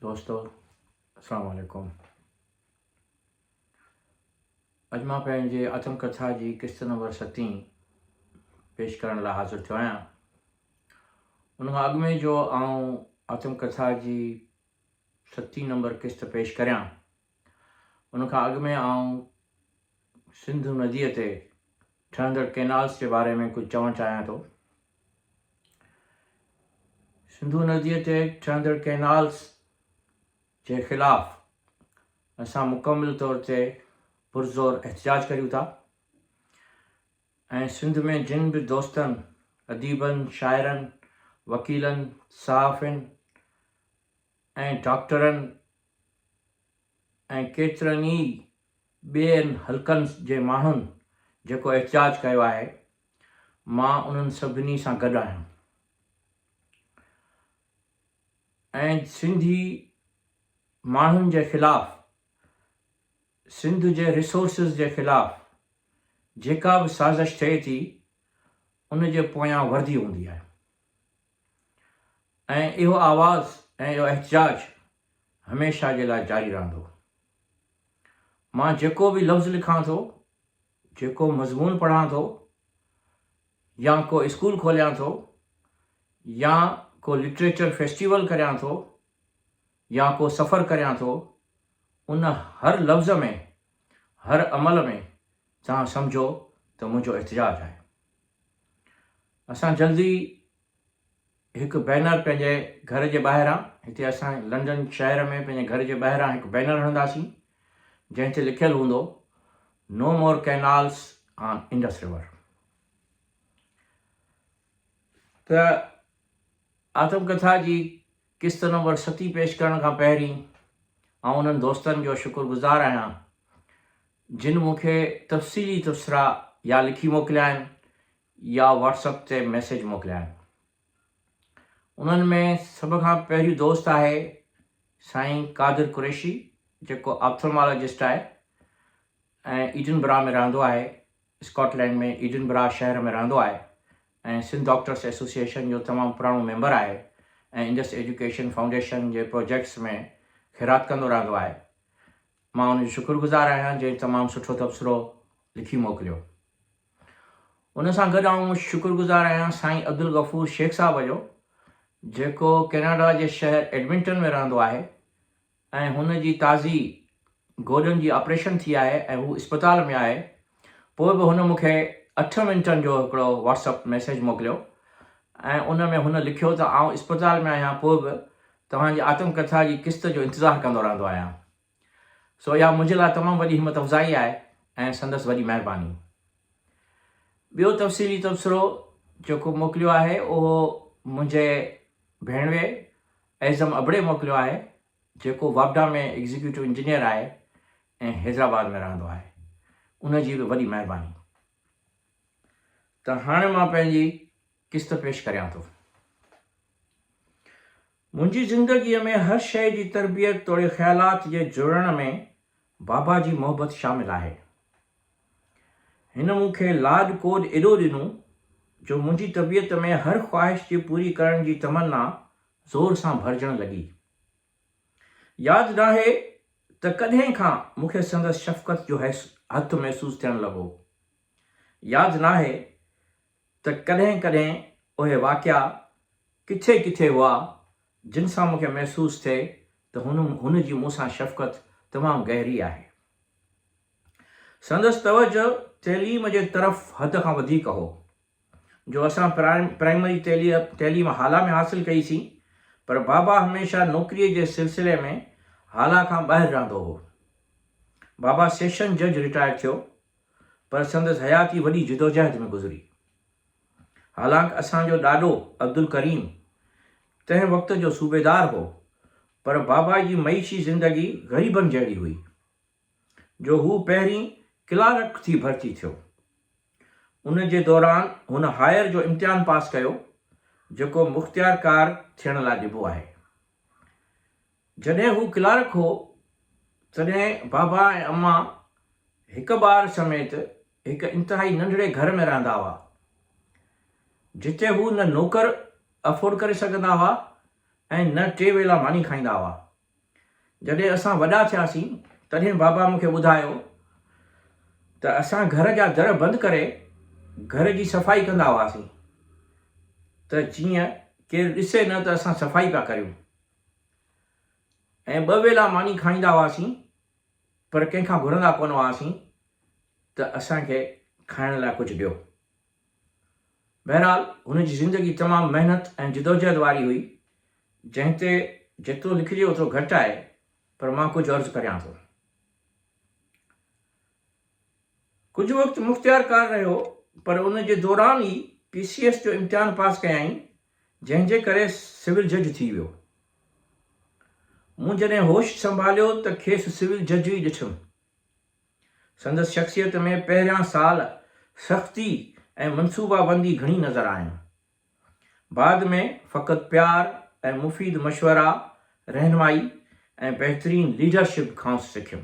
دوستو السلام عليڪم اڄ مان پنهنجي آتم ڪٿا جي قسط نمبر ستين پيش ڪرڻ لاء حاضر ٿيو آهيان ان کان اڳ ۾ جو آئون آتم ڪٿا جي ستين نمبر قسط پيش ڪريان ان کان اڳ ۾ آئون سنڌو نديء تي ٺهندڙ ڪينالز جي باري ۾ ڪجهه چوڻ چاهيان ٿو. سنڌو نديء تي ٺهندڙ ڪينالز جي خلاف اسان مڪمل طور تي پرزور احتجاج ڪريون ٿا ۽ سنڌ ۾ جن به دوستن، اديبن، شاعرن، وڪيلن، صحافين ۽ ڊاڪٽرن ۽ ڪيترن ئي ٻين حلقن جي ماڻهن جيڪو احتجاج ڪيو آهي، مان انهن سڀني سان گڏ آهيان ۽ سنڌي ماڻهن جي خلاف سنڌ جي ريسورسز جي خلاف جيڪا به سازش ٿئي ٿي ان جي پويان وردي هوندي آهي. ۽ اهو آواز ۽ اهو احتجاج هميشه جي لاء جاري رهندو. مان جيڪو به لفظ لکان ٿو، جيڪو مضمون پڙهان ٿو يا ڪو اسڪول کوليان ٿو يا ڪو لٽريچر فيسٽيول ڪريان ٿو يا ڪو سفر ڪريان ٿو، ان هر لفظ ۾، هر عمل ۾ توهان سمجهو ته منهنجو احتجاج آهي. اسان جلد ئي هڪ بينر پنهنجي گهر جي ٻاهران، هتي اسان لنڊن شهر ۾ پنهنجي گهر جي ٻاهران هڪ بينر هڻنداسين، جنهن تي لکيل هوندو، no more canals on Indus river. ته آتم ڪٿا جي قسط نمبر ستين پيش ڪرڻ کان پهرين آئون انهن دوستن جو شڪر گذار آهيان، جن مون کي تفصيلي تبصرا يا لکي موڪليا آهن يا واٽس اپ تي ميسيج موڪليان. انهن ۾ سڀ کان پهريون دوست آهي سائين قادر قريشي جيڪو آپٿلمالاجسٽ آهي ۽ ايڊن برا ۾ رهندو آهي اسڪاٽ لينڊ ۾ ايڊن برا شهر ۾ رهندو آهي ۽ سنڌ ڊاڪٽرس ايسوسيئيشن جو تمام پراڻو ميمبر آهي ۽ انڊس ايجوڪيشن فائونڊيشن جي پروجيڪٽس ۾ خيرات ڪندو رهندو آهي مان ان جو شڪر گذار آهيان جنهن تمام سٺو تبصرو لکي موڪليو ان سان گڏ آئون شڪرگذار آهيان سائين عبدالغفور شيخ صاحب جو جيڪو ڪيناڊا جي شهر ايڊمنٽن ۾ رهندو آهي ۽ هن جي تازي گوڏن جي آپريشن ٿي آهي ۽ هو اسپتال ۾ آهي پوء به هن مون کي اٺ منٽن جو هڪڙو واٽس اپ ميسيج موڪليو ۽ ان ۾ هن لکيو ته آئون اسپتال ۾ آهيان پوء به توهان جي آتم ڪٿا جي قسط جو انتظار ڪندو رهندو آهيان. سو اها منهنجي لاء تمام وڏي همت افزائي آهي ۽ سندس وڏي مهرباني. ٻيو تفصيلي تبصرو جيڪو موڪليو آهي اهو منهنجي ڀيڻوي اعظم ابڙي موڪليو آهي جيڪو واپڊا ۾ ايگزيڪيوٽو انجنيئر آهي ۽ حيدرآباد ۾ رهندو آهي ان جي به وڏي مهرباني. ته هاڻي مان پنهنجي قسط پيش ڪريان ٿو. منهنجي زندگيء ۾ هر شيء جي تربيت توڙي خيالات جي جڙڻ ۾ بابا جي محبت شامل آهي. هن مون کي لاڏ ڪوڏ ايڏو ڏنو جو منهنجي طبيعت ۾ هر خواهش جي پوري ڪرڻ جي تمنا زور سان ڀرجڻ لڳي. ياد ناهي ته ڪڏهن کان مون کي سندس شفقت جو هٿ محسوس ٿيڻ لڳو. ياد ناهي. ته ڪڏهن ڪڏهن اهي واقعا ڪٿي ڪٿي هئا جن سان مون کي محسوس ٿئي ته هن هن جي مون سان شفقت تمام گهري آهي. سندس توجهه تعليم جي طرف حد کان وڌيڪ هو جو اسان پرائمري تعليم هالا ۾ حاصل ڪئي سين پر بابا هميشه نوڪري جي سلسلي ۾ هالا کان ٻاهر رهندو هو. بابا سيشن جج رٽائر ٿيو. پر سندس حياتي وڏي جدوجهد ۾ گذري. حالانڪ اسان جو ڏاڏو عبدالڪريم تنهن وقت جو صوبيدار هو، پر بابا جي معيشي زندگي غريبن جهڙي هئي، جو هو پهرين ڪلارڪ ٿي ڀرتي ٿيو. ان جي دوران هن هائير جو امتحان پاس ڪيو، جيڪو مختيارڪار ٿيڻ لاء ڏبو آهي. جڏهن هو ڪلارڪ هو، تڏهن بابا ۽ امان هڪ ٻار سميت هڪ انتهائي ننڍڙي گهر ۾ رهندا هئا، جتي هو نه نوڪر افورڊ ڪري سگهندا هئا ۽ نه ٽي ويلا ماني کائيندا هئا. جڏهن اسان وڏا ٿياسين، تڏهن بابا مون کي ٻڌايو ته اسان گهر جا در بند ڪري گهر جي صفائي ڪندا هئاسين ته جيئن ڪير ڏسي نه ته اسان صفائي پيا ڪريون. ۽ ٻه ويلا ماني کائيندا هئاسين پر ڪنهن کان گهرندا ڪونه هئاسين ته اسان کي کائڻ لاء ڪجهه ڏيو. بهرحال هن جي زندگي تمام محنت ۽ جدوجهد واري هئي جنهن تي جيترو لکجي اوترو گهٽ آهي پر مان ڪجهه عرض ڪريان ٿو. ڪجهه وقت مختيار ڪار رهيو پر ان جي دوران ئي پي سي ايس جو امتحان پاس ڪيائين جنهن جي ڪري سول جج ٿي ويو. مون جڏهن هوش سنڀاليو ته کيس سول جج ئي ڏٺم. سندس شخصيت ۾ پهريان سال سختي ۽ منصوبابندي گهڻي نظر آيم. بعد ۾ فقط پيار ۽ مفيد مشورا، رهنمائي ۽ بهترين ليڊرشپ کانئس سکيم.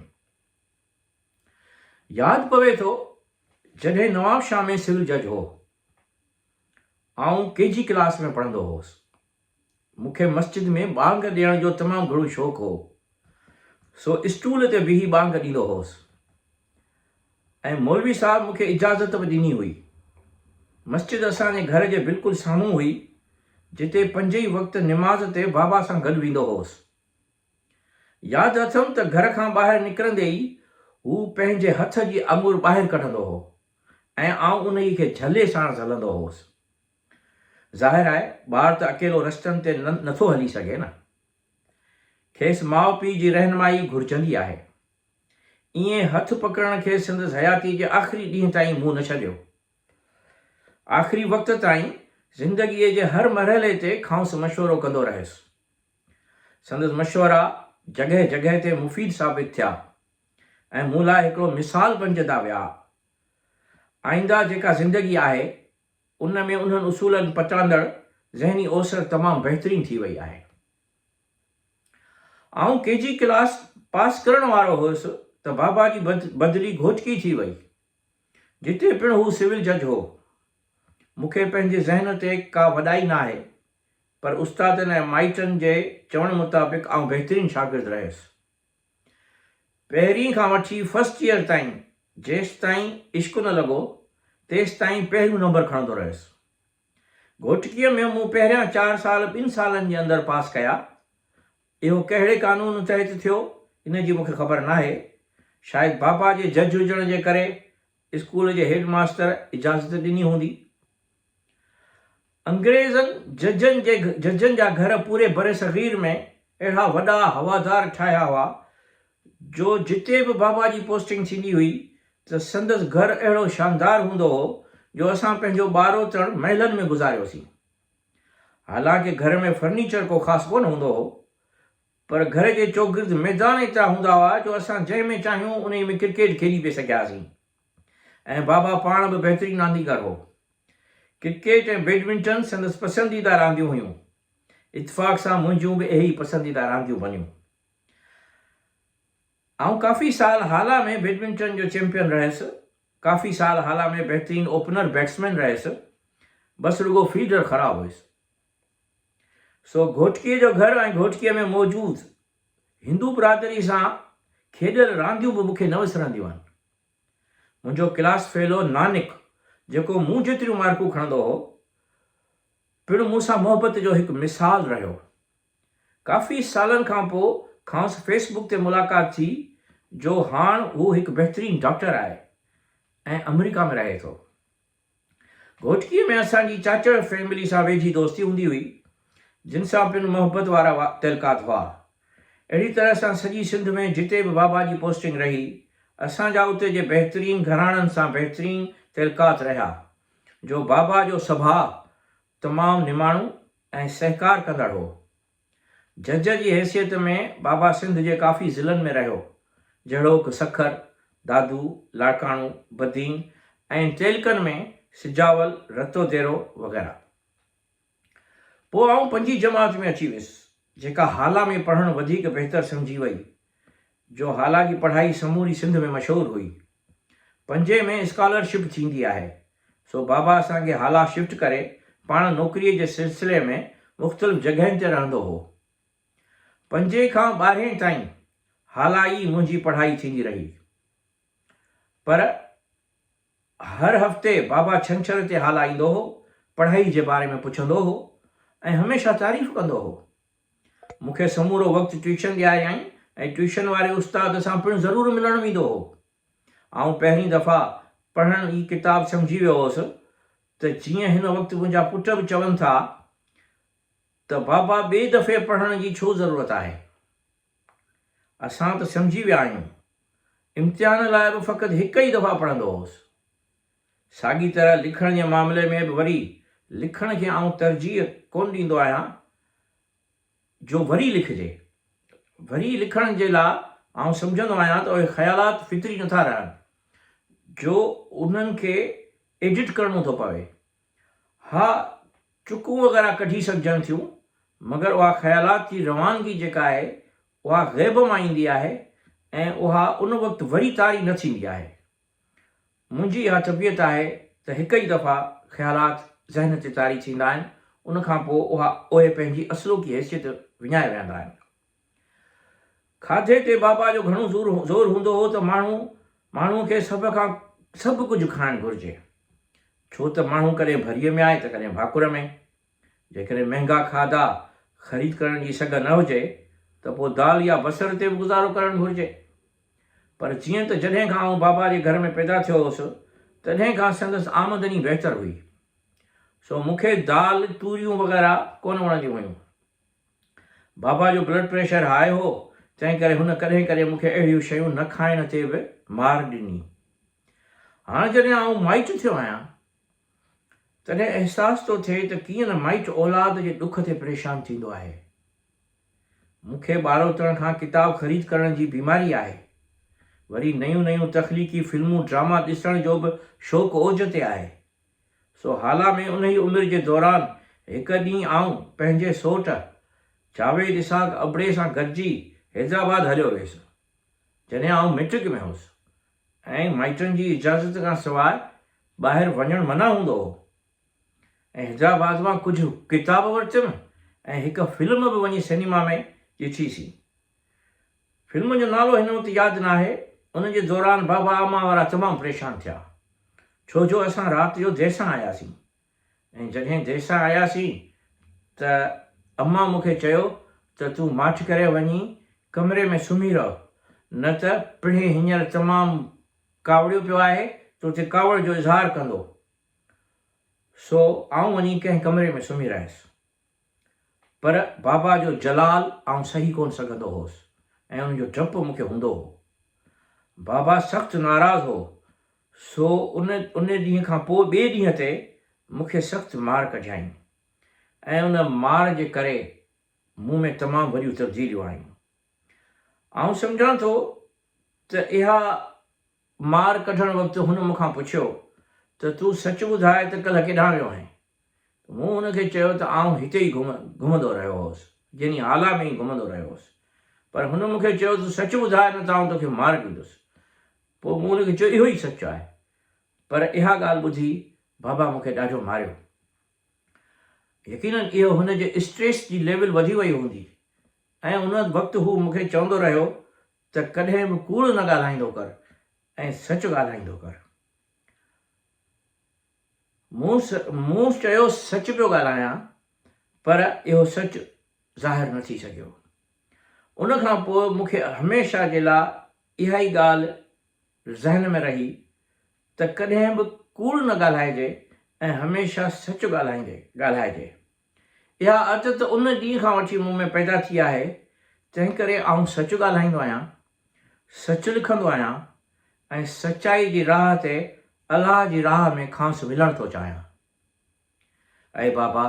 ياد پوي ٿو جڏهن نوابشاهه ۾ سول جج هو. آئون ڪي جي ڪلاس ۾ پڙهندو هوس. مون کي مسجد ۾ ٻانگ ڏيڻ جو تمام گهڻو شوق هو، سو اسٽول تي بيهي ٻانگ ڏيندو هوس ۽ مولوي صاحب مون کي اجازت به ڏني هئي. مسجد اسان جي گهر جي بلڪل سامهون هئي، جتي پنج ئي وقت نماز تي بابا سان گڏ ويندو هوس. ياد اٿم ته گهر کان ٻاهر نڪرندي ئي هو پنهنجي هٿ جي آڱر ٻاهر ڪڍندو هو. ۽ آئون انهيء کي جهلي ساڻس هلندو هوس. ظاهر آهي، ٻار ته اڪيلو رستن تي نه ٿو هلي سگهي نه. کيس ماء پيء جي رهنمائي ئي گهرجندي آهي. ائين هٿ پڪڙڻ کيس سندس حياتيء جي آخري ڏينهن تائين منهن نه ڇڏيو. آخري وقت تائين زندگيء جي هر مرحلي تي کانئس مشورو ڪندو رهيس. سندس مشورا جڳهه جڳهه تي مفيد ثابت ٿيا. ۽ مون لاء هڪڙو مثال بنجندا ويا. آئنده جيڪا زندگي آهي، ان ۾ انهن اصولن پٽاندڙ ذهني اوسر تمام بهترين ٿي وئي آهي. آئون ڪي جي ڪلاس پاس ڪرڻ وارو هيس ته بابا جي بدلي گهوٽڪي ٿي وئي، جتي پڻ هو سول جج هو. مون کي پنهنجي ذهن تي ڪا وڏائي ناهي، پر استادن ۽ مائٽن جي چوڻ مطابق آئون بهترين شاگرد رهيس. پهرين کان وٺي فرسٽ ايئر تائين جيستائين عشق نه لڳو تيستائين پهريون نمبر کڻندو رهيس. گهوٽڪيء ۾ مون پهريان چار سال ٻن سالن جي اندر پاس ڪيا. اهو ڪهڙي قانون تحت ٿيو ان جي مون کي خبر ناهي. شايد بابا جي جج هجڻ جي ڪري اسڪول جي هيڊ ماستر اجازت ڏني هوندي. انگريزن ججن جي ججن جا گهر پوري برصغير ۾ اهڙا وڏا هوادار ٺاهيا هئا جو جتي به بابا جي پوسٽنگ ٿيندي هئي ته سندس گهر اهڙو شاندار هوندو هو جو اسان پنهنجو ٻاروتڻ محلن ۾ گذاريوسين. حالانڪه گهر ۾ فرنيچر ڪو خاص ڪونه هوندو هو پر گهر جي چوگرد ميدان ايترا هوندا هئا جو اسان جنهن ۾ چاهيون انهي ۾ ڪرڪيٽ کيڏي پئي سگهياسين. ۽ بابا پاڻ به بهترين رانديگر هو. ڪرڪيٽ ۽ بيڊمنٽن سندس پسنديده رانديون هيون. اتفاق سان منهنجيون به اهي ئي پسنديده رانديون بنيون. آئون ڪافي سال هالا ۾ بيڊمنٽن جو چيمپيئن رهيس. ڪافي سال هالا ۾ بهترين اوپنر بيٽسمين رهيس. بس رڳو فيلڊر خراب هيس. سو گهوٽڪي جو گهر ۽ گهوٽڪي ۾ موجود هندو برادري سان کيڏيل رانديون به مون کي نه وسرنديون آهن. منهنجو ڪلاس فيلو نانڪ جيڪو مون جيتريون مارڪون کڻندو هو، پڻ مون سان محبت جو هڪ مثال رهيو. ڪافي سالن کان پوء کانئس فيس بڪ تي ملاقات ٿي جو هاڻ هو هڪ بهترين ڊاڪٽر آهي ۽ آمريڪا ۾ رهي ٿو. گهوٽڪيء ۾ اسان جي چاچا جي فيملي سان ويجهي دوستي هوندي هئي، جن سان پڻ محبت وارا تعلقات هئا. اهڙي طرح سان سڄي سنڌ ۾ جتي به بابا جي پوسٽنگ رهي، اسان جا اتي جي بهترين گهراڻن سان بهترين تعلقات رهيا، جو بابا جو سڀاء تمام نماڻو ۽ سهڪار ڪندڙ هو. جج جي حيثيت ۾ بابا سنڌ جي ڪافي ضلعن ۾ رهيو، جهڙوڪ، سکر، دادو، لاڙڪاڻو، بدين ۽ تعلقن ۾ سجاول، رتو ديرو وغيره. پوء آئون پنجين جماعت ۾ اچي ويس، جيڪا هالا ۾ پڙهڻ وڌيڪ بهتر سمجهي وئي. جو هالا جي پڙهائي سموري سنڌ ۾ مشهور هئي. پنجين ۾ اسڪالر شپ ٿيندي آهي. سو بابا اسان کي هالا شفٽ ڪري پاڻ نوڪريء جي سلسلي ۾ مختلف جڳهين تي رهندو هو. پنجين کان ٻارهين تائين هالا ئي منهنجي پڙهائي ٿيندي رهي. پر هر هفتي بابا ڇنڇر تي هالا ايندو هو، پڙهائي جي باري ۾ پڇندو هو ۽ هميشه تعريف ڪندو هو. مون کي سمورو وقت ٽيوشن ڏياريائين ۽ ٽيوشن واري استاد سان پڻ ضرور ملڻ ويندو هو. آئون پهرين دفعا پڙهڻ ئي ڪتاب سمجهي ويو هوس ته جيئن هن وقت منهنجا پٽ به چون ٿا ته بابا ٻئي دفعي پڙهڻ جي ڇو ضرورت آهي. اسان ته سمجهي ويا آهيون. امتحان لاء به فقط هڪ ئي دفعا پڙهندو هوس. ساڳي طرح لکڻ جي معاملي ۾ به وري لکڻ کي آئون ترجيح ڪونه ڏيندو آهيان جو وري لکجي. وري لکڻ جي لاء آئون سمجهندو آهيان ته اهي خيالات فطري نٿا رهن جو انهن کي ايڊٽ ڪرڻو ٿو پوي ها چڪون وغيره ڪڍي سگهجن ٿيون مگر اها خيالات جي روانگي جيڪا آهي اها غيب مان ايندي آهي ۽ اها ان وقت وري طاري نه ٿيندي آهي. منهنجي اها طبيعت آهي ته هڪ ئي دفعا خيالات ذهن تي طاري ٿيندا آهن ان کان پوء اها اهي پنهنجي اصلوڪي حيثيت وڃائي ويهندا آهن. کاڌي تي بابا جو گهڻو زور هوندو هو ته ماڻهو ماڻهوء کي سڀ کان سڀ ڪجهه کائڻ گهرجي، ڇو ته ماڻهو ڪڏهن ڀريء ۾ آهي ته ڪڏهن ڀاڪر ۾. جيڪڏهن مهنگا کاڌا خريد ڪرڻ جي سگهه نه هجي ته پوء دال يا بصر تي به گذارو ڪرڻ گهرجي. پر جيئن ته جڏهن کان آئون بابا جي گهر ۾ پيدا ٿيو هوس، تڏهن کان سندس آمدني بهتر هئي، سو مون کي دال، توريون وغيره ڪونه وڻنديون هيون. بابا جو بلڊ پريشر هاء هو، تنهن ڪري هن ڪڏهن ڪڏهن مون کي اهڙيون شيون نه کائڻ تي به مار ڏني. هاڻ جڏهن آئون مائٽ ٿيو آهيان، تڏهن احساس ٿو ٿئي ته ڪيئن نه مائٽ اولاد جي ڏک تي پريشان ٿيندو آهي. مون کي ٻاروتڻ کان ڪتاب خريد ڪرڻ جي بيماري آهي. وري نيون نيون تخليقي فلمون ڊراما ڏسڻ جو به شوق اوج تي آهي. سو هالا ۾ انهيء عمر جي دوران هڪ ڏينهن آئون پنهنجي سوٽ جاويد اسحاق ابڙي سان گڏجي حيدرآباد هليو ويس، جڏهن آئون مئٽرڪ ۾ هوس ۽ مائٽن جي اجازت کان سواء ٻاهر وڃڻ منع هوندو هو ۽ حيدرآباد مان ڪجهه ڪتاب ورتيم ۽ هڪ فلم به وڃي سئنيما ۾ ڏٺيسين. فلم جو نالو هن وقت ياد ناهي، ان جي دوران بابا امان وارا تمام پريشان ٿيا، ڇو جو اسان رات جو دير سان آياسين ۽ جڏهن دير سان آياسين ته امان مون کي چيو ته تون ماٺ ڪري وڃي ڪمري ۾ سمهي رهه نه ته پڻهي هينئر تمام ڪاوڙيو پيو آهي تو تي ڪاوڙ جو اظهار ڪندو سو آئون وڃي ڪنهن ڪمري ۾ سمهي رهيس. پر بابا جو جلال آئون سهي ڪونه سگهندو هوس ۽ ان جو ڊپ مون کي هوندو هو. بابا سخت ناراض هو، سو ان ان ڏينهن کان پوء ٻئي ڏينهن تي مون کي سخت مار ڪڍيائين ۽ ان مار جي ڪري مون ۾ تمام وڏيون تبديليون آيون. آئون سمجهان ٿو ته اها مار ڪڍڻ وقت هن مون کان پڇيو ته تون سچ ٻڌاء ته ڪلهه ڪيڏانهن ويو هئين؟ ته مون هن کي چيو ته آئون هتي ئي گهمندو رهيو هوس، جني هالا ۾ ئي گهمندو رهيو هوس. پر هن مون کي چيو ته سچ ٻڌاء نه ته آئون توکي مار ڏيندس. پوء مون هن کي چيو اهو ئي سچ آهي. پر اها ڳالهه ٻڌي بابا مون کي ڏاڍو ماريو. يقينن اهو هن جي اسٽريس جي ليول وڌي وئي هوندي ۽ ان وقت هو مون کي چوندو رهيو ته ڪڏهن به ڪوڙ نه ڳالهائيندو ڪر ۽ سچ ڳالهائيندو ڪر. مون مون چيو سچ پيو ڳالهايان پر اهو سچ ظاهر نه ٿي سگهيو. ان کان پوء مون کي هميشه جي لا اها ئي ڳالهه ذهن ۾ رهي ته ڪڏهن به ڪوڙ نه ڳالهائجي ۽ هميشه سچ ڳالهائيندي ڳالهائجي. اها عادت ان ڏينهن کان وٺي مون ۾ پيدا ٿي آهي، تنهن ڪري آئون سچ ڳالهائيندو آهيان، سچ لکندو آهيان ۽ سچائي جي راهه تي الله جي راهه ۾ کانئس ملڻ ٿو چاهيان. اي بابا!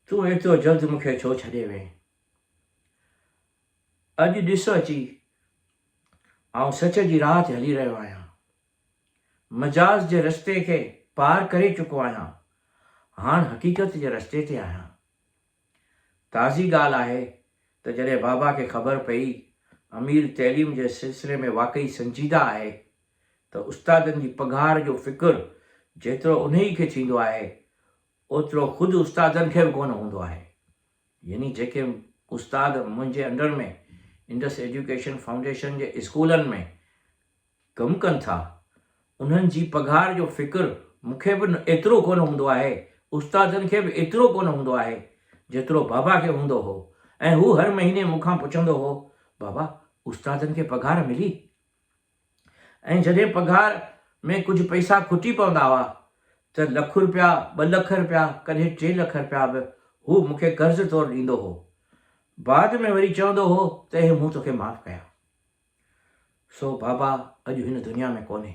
تون ايترو جلد مون کي ڇو ڇڏي وئين؟ اڄ ڏس اچي، آئون سچ جي راهه تي هلي رهيو آهيان. مجاز جي رستي کي پار ڪري چڪو آهيان، هاڻ حقيقت جي رستي تي آهيان. تازي ڳالهه آهي ته جڏهن بابا کي خبر پئي امير تعليم جي سلسلي ۾ واقعي سنجيده آهي ته استادن جي پگهار جو فڪر جيترو انهي کي ٿيندو آهي اوترو خود استادن کي به ڪونه هوندو آهي. يعني جيڪي استاد منهنجي انڊر ۾ انڊس ايجوڪيشن فائونڊيشن جي اسڪولن ۾ ڪم ڪن ٿا انهن جي پگهار جو فڪر مون کي به ايترو ڪونه هوندو آهي استادن کي به ايترو ڪونه هوندو آهي جيترو بابا کي هوندو هو ۽ هو هر مهيني مون کان پڇندو هو بابا استادن کي پگهار ملي؟ ۽ جڏهن پگهار ۾ ڪجهه پئسا کٽي پوندا هئا ته لک رپيا، ٻه لک رپيا، ڪڏهن ٽي لک رپيا به هو مون کي قرض طور ڏيندو هو. بعد ۾ وري چوندو هو ته اهي مون توکي معاف ڪيا. سو بابا اڄ هن دنيا ۾ ڪونهي.